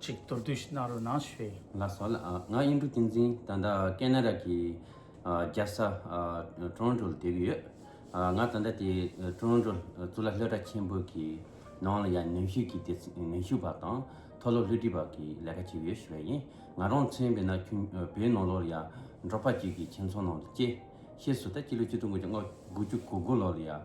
ཅིག་མདོར་བསྡུས་ཤིག་གནང་རོགས་གནང་ཞེས། ལ་སོགས་ལ། ང་གཡུང་དྲུང་བསྟན་འཛིན་ད་ལྟ་ཀན་ན་ར་གི་རྒྱལ་ས Toronto ལ་སྡོད་ཀྱི་ཡོད། ང་ད་ལྟ་དེ Toronto གཙུག་ལག་ལྷོ་བྲག་ཆེན་པོ་གི་ནང་ལ་ཡང་ནུས་ཤུགས་ཀྱི་ནུས་ཤུགས་པ་དང་མཐོ་སློབ་ལྷུ་སྒྲིག་པ་གི་ལས་ཀ་བྱེད་ཀྱི་ཡོད་ཞུ་བ་ཡིན། ང་རང་མཚོན་བས་ན་ཁྱོད་བོད་ནང་ལོར་ཡང་འབྲོག་པ་བརྒྱུད་ཀྱི་ཁྱིམ་ཚང་ནང་དུ་སྐྱེས། ཤེས་སུ་ད་སྤྱི་ལོ་བཅུ་དྲུག་དགུ་བརྒྱ་དགུ་བཅུ་གོ་དགུ་ལོར་ཡང་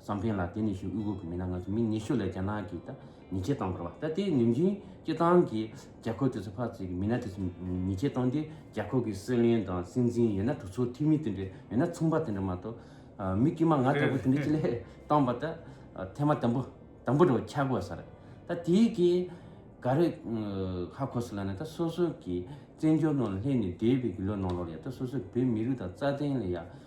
བསམ་གཏན་ལ་དེ་ནི་ཞུ་དབུས་ཁུལ་གྱི་མི་སྣ་ང་ཚོ་མི་ཉི་ཤུ་ལས་རྒྱ་ནག་གི་ད་ཉེས་ཆད་བཏང་བར་བ་ད་དེའི་ནུས་འབྱུང་སྤྱི་བཏང་གིས་རྒྱ་ཁོག་དེ་ཚོ་ཕར་ཚུད་ཀྱི་མི་སྣ་དེ་ཚོ་ཉེས་ཆད་བཏང་སྟེ་རྒྱ་ཁོག་གི་སྲིད་བློན་དང་སྲིད་འཛིན་ཡོད་ན་གྲོས་ཚོགས་འཐུས་མི་དེ་འདྲ་ཡོད་ན་ཚོང་པ་དེ་འདྲ་མ་གཏོགས་མི་དཀྱུས་མ་ང་ལྟ་བུ་དེ་འདྲ་ཅི་ལས་བཏང་བ་ད་ཐེངས་མ་དམ་པོ་དམ་པོ་འགྲོ་ཆགས་དགོས་ཟེར་ད་དེ་གི་ག་རེ་ཧ་གོ་སི་ལ་ན་ད་སོ་སོ་གི་བཙན་བྱོལ་ནང་ལ་སླེབས་ནས་འདས་པའི་དགུ་ལོ་ནང་ལོར་ཡ་ད་སོ་སོ་བོད་མི་རིགས་དང་རྩ་དོན་ལ་ཡ།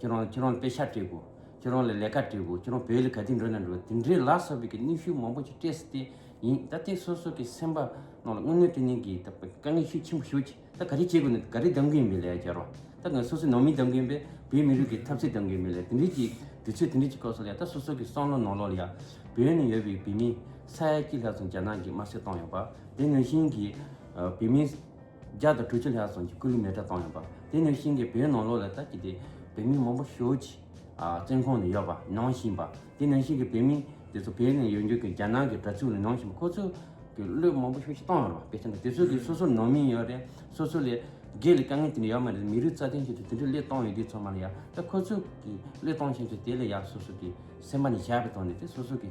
ཁྱོད་རང་ཁྱོད་རང་དཔེ་ཆ་སྤྲད་དགོས། ཁྱོད་རང་ལ་ལས་ཀ་སྤྲད་དགོས། ཁྱོད་རང་བོད་ལ་ག་དུས་འགྲོ་ན་འགྲོ། དེ་འདྲའི་ལག་སོགས་པའི་གི་གནོན་ཤུགས་མང་པོ་ཞིག་སྤྲད་སྲིད་དེ་ཡིན། ད་ལྟའི་སོ་སོ་གི་སེམས་པ་ནང་ལ་དངོས་གནས་དེ་ནས་གི་ད་དཀའ་ངལ་ཤུགས་ཆེན་པོ་ཞུགས་ཀྱི། ད་ག་རེ་བྱེད་དགོས་ནས་ག་རེ་གདམ་གི་ཡིན་པའི་ལས་ཀ་བྱ་རོགས། ད་ང་སོ་སོའི་ནང་མི་གདམ་གི་ཡིན་པས་བོད་མི་རིགས་ཀྱི་འཐབ་རྩོད་གདམ་གི་ཡིན་པའི་ལས་དེ་འདྲའི་གི་དུས་ཚོད་དེ་འདྲའི་གི་སྐབས་སུ་ལ་ད་སོ་སོ་གི་བསམ་བློ་ནང་ལོགས་ལ་ཡ། བོད་ནས་ཡོད་པའི་བོད་མི་ས་ཡ་གཅིག་ལྷག་ཙམ་རྒྱ་ནག་གི་དམར་གསོད་བཏང་ཡོད་པ། དེ་ནང་བཞིན་གི་བོད་མི། བརྒྱ་དང་དྲུག་ཅུ་ལྷག་ཙམ་གྱི་སྐུ་ལུས་མེ་སྒྲ་བཏང་ཡོད་པ། དེ་ནས་ཤིང་གི་བེའུ་ནང་ལོགས་ལ་ལྟ་གི་དེ་བེའུ་མིག་མང་པོ་ཞོལ་གྱི་བཙན་ཁང་ནས་ཡོད་པ་ནང་བཞིན་པ། དེ་ནས་ཤིང་གི་བེའུ་མིག་དེ་ཚོ་བེའུ་ནས་ཡོད་འགྱུར་གྱི་རྒྱ་ནག་གི་དྲ་ཚུགས་ལ་ནང་བཞིན་པ་ཁོ་ཚོ་གི་གླུད་མང་པོ་ཞོལ་གྱི་བཏང་ཡོད་པ་དཔེ་ཆ་འདུག་དེ་ཚོ་གི་སོ་སོར་ནང་མི་ཡོད་རེད་སོ་སོ་ལས་སྒེར་ལས་དཀའ་ངལ་དེ་འདྲ་ཡོད་མ་རེད་མི་རིགས་རྩ་དོན་ཆེད་དུ་དེ་འདྲའི་གླུད་བཏང་ཡོད་དུས་ཚང་མ་ལ་ཡ་ད་ཁོ་ཚོ་གི་གླུད་བཏང་ཆེད་དུ་དེ་ལ་ཡ་སོ་སོ་གི་སེམས་པ་ནས་བྱས་པ་དང་ནི་དེ་སོ་སོ་གི།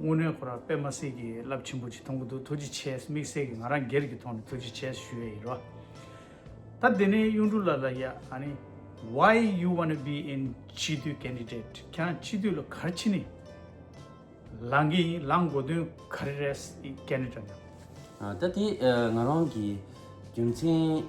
དངོས་གནས་ཁོ་རང་པད་མ་སེར་གྱི་རླབས་ཆེན་པོ་ཅིག་མཐོང་གི་འདུག་ཐུགས་རྗེ་ཆེ་དམིགས་བསལ་གྱི་ང་རང་སྒེར་གྱི་ཐོག་ནས་ཐུགས་རྗེ་ཆེ་ཞུ་ཡས་ཡིན་རོ། ད་དེ་ནས་གཡུང་དྲུང་ལ་ལ་ཡ་ཨ་ནི། Why you wanna be in སྤྱི་འཐུས candidate ཁྱེད་རང་སྤྱི་འཐུས་ལ་ག་རེ་བྱེད་ནི་ལང་གི་ཡིན་ལང་དགོས་དོན་ག་རེ་རེད Canada ནས། ད་དེ་ང་རང་གི་རྒྱུ་མཚན།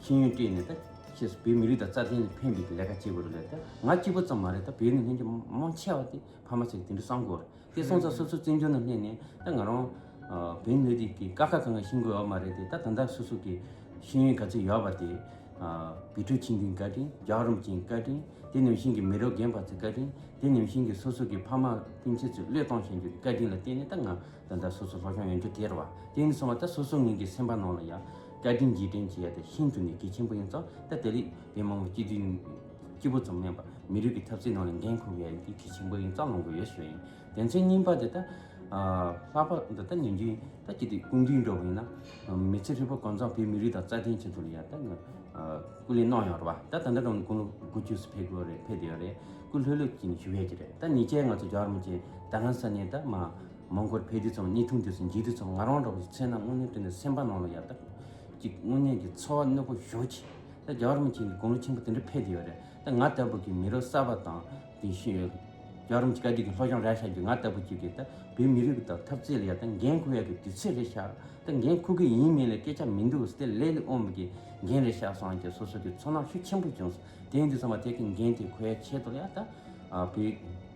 ཤེས་ཡོན་སྤྲད་ནས་ད་ཁྱེད་སུ་བོད་མི་རིགས་དང་རྩ་དོན་ལ་ཕན་པའི་ལས་ཀ་བྱེད་དགོས་རེད་ལས་ད་ང་སྐྱིད་པོ་ཙམ་མ་རེད་ད་བོད་ནང་ལྷན་རྒྱ་མང་ཆེ་བ་དེ་ཕ་མ་ཚེ་དེ་འདྲ་བསམ་དགོས་རེད་དེ་སོང་ཙང་སོ་སོ་བཙན་བྱོལ་ནང་སླེབས་ནས་ད་ང་རང་བོད་མི་རིགས་ཀྱི་ཀ་ཁ་གང་གང་ཤི་དགོས་ཨ་མ་རེད་དེ་ད་ད་ལྟ་སོ་སོ་གི་ཤེས་ཡོན་ག་ཚོད་ཡོད་པ་དེ་བི་ཁྲོ་ཆིན་ཏིན་བཀའ་དྲིན་རྒྱ་རོམ་ཅིན་བཀའ་དྲིན་དེ་ནང་བཞིན་གྱི་མི་རོ་རྒན་པ་ཚོ་བཀའ་དྲིན་དེ་ནང་བཞིན་གྱི་སོ་སོ་གི་ཕ་མ་སྤུན་ཚེ་ཚོ་བློས་གཏོང་བྱེད་འཇུག་གི་བཀའ་དྲིན་ལ་བརྟེན་ནས་ད་ང་ད་ད་སོ་སོ་ལྷོ་ཤོང་ཡོང་རྒྱུ་དེ་རེད་བ་དེ་ནས་སོང་བ་ད་སོ་སོ་ངེད་ཀྱི་སེམས་པ་ནང་ལ་ཡ། བཀའ་དྲིན་རྗེས་དྲན་བྱེད་ཡ་དེ་ཤིན་ཏུ་ནས་གལ་ཆེན་པོ་ཡིན་ཙང་ད་དེ་རིགས་བལ་མང་བོ་སྐྱིད་དུས་ཡུན་སྐྱིད་པོ་ཙམ་མེད་པར་མི་རིགས་ཀྱི་ཐབས་རྩལ་ནང་ནས་འགན་འཁུར་བ་ཡ་དེ་གལ་ཆེན་པོ་ཡིན་ཙང་ལོང་དགོས་ཡོད་ཞོ་ཡིན་དེ་ཚོའི་སྙིང་པ་དེ་ད་ལྷག་པ་འདི་ད་ཉོན་རྒྱུ་ད་སྐྱིད་དུས་ཀུན་དུས་འགྲོ་བ་ཡིན་ན་མི་ཚེ་ཧྲིལ་པོ་གང་ཙམ་བོད་མི་རིགས་དང་རྩ་དོན་ཆེད་དུ་ཡ་ད་ནི་སྐུ་ལས་གནང་ཡོང་ར་བ་ད་ད་ལྟ་ཀུན་ལུགས་དགུ་བཅུ་སུ་ཕེབས་དགོས་རེད་ཕེབས་དེ་ཡོད་རེད་སྐུ་ལྷོད་ལྷོད་ཀྱིས་ཞུ་ཡས་ཀྱི་རེད་ད་ཉེས་ཆད་ང་ཚོ་རྒྱ་གར་མི་ཆེད་ད་ལྷ་ས་ནས་ད་མ་མོང་གོར་ཕེ་དུས་ཚང་གཉིས་ཐུང་དུས་སུ་འགྱིག་དུས་ཚང་ང་རང་འདྲ་བོ་ཞིག་འཚལ་ན་དངོས་གནས་དུས་འདིར་སེམས་པ་ནང་ལ་ཡར་ལྟ་དགོས་གཅིག་དངོས་གནས་ཀྱི་འཚོ་བ་གནོད་པོ་ཞོག་ཅིག་ད་རྒྱ་གར་མི་ཆེན་གྱི་དགོང་ལོ་ཆེན་པོ་དེ་འདྲ་ཕེབས་ཀྱི་ཡོད་རེད་ད་ང་ལྟ་བུ་གྱི་མི་རོ་གསར་པ་དང་དེ་བཞིན་ཡོད་རྒྱ་གར་མི་ཆེན་བཀའ་ཁྲི་གྱི་ལྷོ་བྱང་ར་ཤག་གྱི་ང་ལྟ་བུ་གཅིག་གིས་ད་བོད་མི་རིགས་དང་འཐབ་རྩལ་ཡ་ད་འགན་ཁུར་ཡ་གི་དུས་ཚེས་རེད་ཤག་ད་འགན་ཁུར་གི་ཡིན་མིན་ལ་སྐད་ཆ་མི་འདུག་སྟེ་ལས་ལས་ཨོམ་གྱི་འགན་རེད་ཤག་སང་ཀྱི་སོ་སོ་གྱི་ཚོར་སྣང་ཤུགས་ཆེན་པོ་བྱུང་སོང་དེང་དུས་ཚང་མ་དེ་གི་འགན་དེ་ཁོ་ཡ་ཆེད་དུ་ཡ་ད་བོད།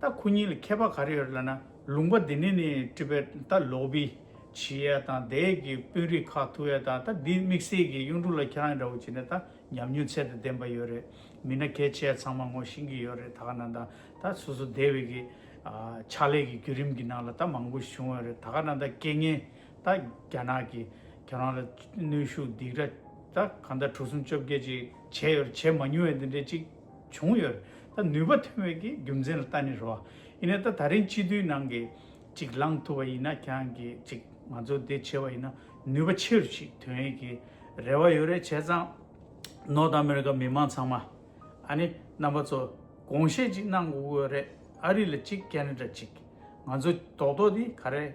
ད་ཁོ་གཉིས་ལ་ཁྱད་པར་ག་རེ་ཡོད་ལ་ན། ལུང་པ་འདི་ནི་ནི་ཀྲི་པེ་ད་ལོག་བི་ཇི་ཡ་དང་དེ་ཡས་ཀྱི་དཔོན་རིགས་ཁག་ཐུ་ཡ་དང་ད་འདི་དམིགས་བསལ་གྱི་གཡུང་དྲུང་ལ་ཁྱེད་རང་འདྲ་བོ་བྱེད་ནས་ད་ཉམས་མྱོང་ཚད་དུ་ལྡན་པ་ཡོད་རེད་མི་ན་གལ་ཆེ་ཡ་ཚང་མ་ངོ་ཤེས་ཀྱི་ཡོད་རེད་ད་ག་ན་ད་ད་སོ་སོ་སྡེ་བའི་གི་ཕྱག་ལས་ཀྱི་བརྒྱུད་རིམ་གྱི་ནང་ལ་ད་མང་པོ་བྱུང་ཡོད་རེད་ད་ག་ན་ད་རྐྱེན་ངན་ད་རྒྱ་ནག་གི་ཁྱེད་རང་ལ་གནོན་ཤུགས་སྡིགས་ར་ད་གང་ད་གྲུ་གསུམ་བཅོ་བརྒྱད་ཅིག་བྱས་ཡོད་རེད་བྱས་མ་མྱོང་ཡ་འདི་འདྲའི་ཅིག། བྱུང་ཡོད། ད་ནུས་པ་ཐོན་བས་ཀྱི་རྒྱུ་མཚན་ལ་ལྟ་ནི་རོ། ཡིན་ནའི་ད་ད་རིང་སྤྱི་འཐུས་ནང་གི་ཅིག་ལངས་ཐུབ་པ་ཡིན་ན་ཀྱང་གི་ཅིག་ང་ཚོ་དེ་བྱེད་པ་ཡིན་ན་ནུས་པ་ཆེ་རུ་ཞིག་ཐོན་ཡས་ཀྱི་རེ་བ་ཡོད་རེད་བྱས་ཙང་ནོར་ཨ་མི་རི་ཀ་མི་མང་ཚང་མ་ཨ་ནི་རྣམ་པ་ཚོ་དགོངས་བཞེས་ཅིག་གནང་དགོས་རེད་ཨ་རི་ལ་ཅིག་ཀན་ན་ཀྲ་ཅིག་ང་ཚོ་རྡོག་རྡོག་དེ་ག་རེ།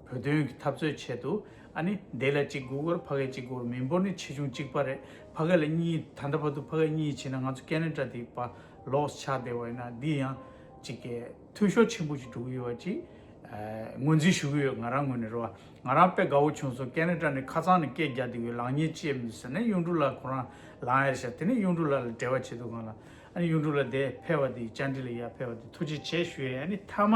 བོད་དོན་གྱི་འཐབ་རྩོད་ཆེད་དུ་ཨ་ནི་དེ་ལ་གཅིག་དགུ་སྒོར་ཕ་གས་གཅིག་སྒོར་མི་འབོར་ནི་ཆེ་ཆུང་གཅིག་པ་རེད་ཕ་གས་ལ་གཉིས་ད་ལྟ་བར་དུ་ཕ་གས་གཉིས་བྱིན་ན་ང་ཚོ་ཀན་ལན་ཀྲ་དེ་པ་ལོགས་ཆགས་བསྡད་བ་ཡིན་ན་འདི་ཡང་གཅིག་གས་འཐུས་ཤོར་ཆེན་པོ་ཞིག་འགྲོ་གི་ཡོད་བ་གཅིག་ངོས་འཛིན་ཞུ་གི་ཡོད་ང་རང་ངོས་ནས་རོ་ང་རང་དཔེ་དགའ་བོ་བྱུང་སོང་ཀན་ལན་ཀྲ་ནས་ཁ་ཚང་ནས་སྐད་རྒྱག་དེ་ཡོད་ལག་གཉིས་ཅེས་མི་ཟེར་ན་གཡུང་དྲུང་ལགས་ཁོ་རང་ལག་གཡར་ཤག་དེ་ནས་གཡུང་དྲུང་ལགས་ལ་འབྲེལ་བ་བྱེད་དུ་གང་ལ་ཨ་ནི་གཡུང་དྲུང་ལགས་དེ་ཕེ་བ་དེ་བཅར་འདྲི་ལ་ཡར་ཕེ་བ་དེ་ཐུགས་རྗེ་ཆེ་ཞུ་ཡས་ཨ་ནི་མཐའ་མ།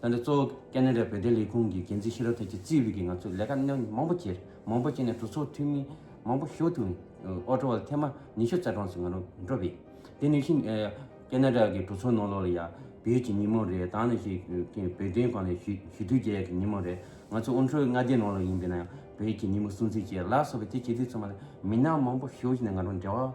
ད་ནི་གཙོ་བོ་ཀ་ནན་རཱའི་བོད་དོན་ལས་ཁུངས་ཀྱི་འགན་འཛིན་ཤི་རོ་ཐེ་ཆི་ཙི་ཝི་གིས་ང་ཚོས་ལས་ཀ་གནད་ཡོད་མང་པོ་བྱས། མང་པོ་བྱས་ནས་གྲོས་ཚོགས་འཐུས་མི་མང་པོ་ཞུགས་ཐུབ། ཨོ་ཀྲོ་བ་ཐེ་མ་ཉི་ཤུ་རྩ་གྲངས་སུ་ང་རང་འགྲོ་བས། དེ་ནི་ཤིན། ཀ་ནན་རཱ་གི་གྲོས་ཚོགས་ནང་ལོགས་ལ་ཡང་བོད་ཀྱི་ཉིན་མོ་རེད་ད་ནི་ཞིག་བོད་དོན་གང་ལས་ཞུ་ཞུ་དུས་རྒྱལ་གྱི་ཉིན་མོ་རེད་ང་ཚོ་ཨོ་ཀྲོའི་མངའ་སྡེའི་ནང་ལོགས་ཡིན་པས་ན་ཡང་བོད་ཀྱི་ཉིན་མོ་སྲུང་བརྩི་བྱས་ལ་སོགས་པའི་དེ་བྱེད་དུས་ཚང་མ་ལ་མི་སྣ་མང་པོ་ཞུགས་ཤིག་ནས་ང་རང་འབྲེལ་བ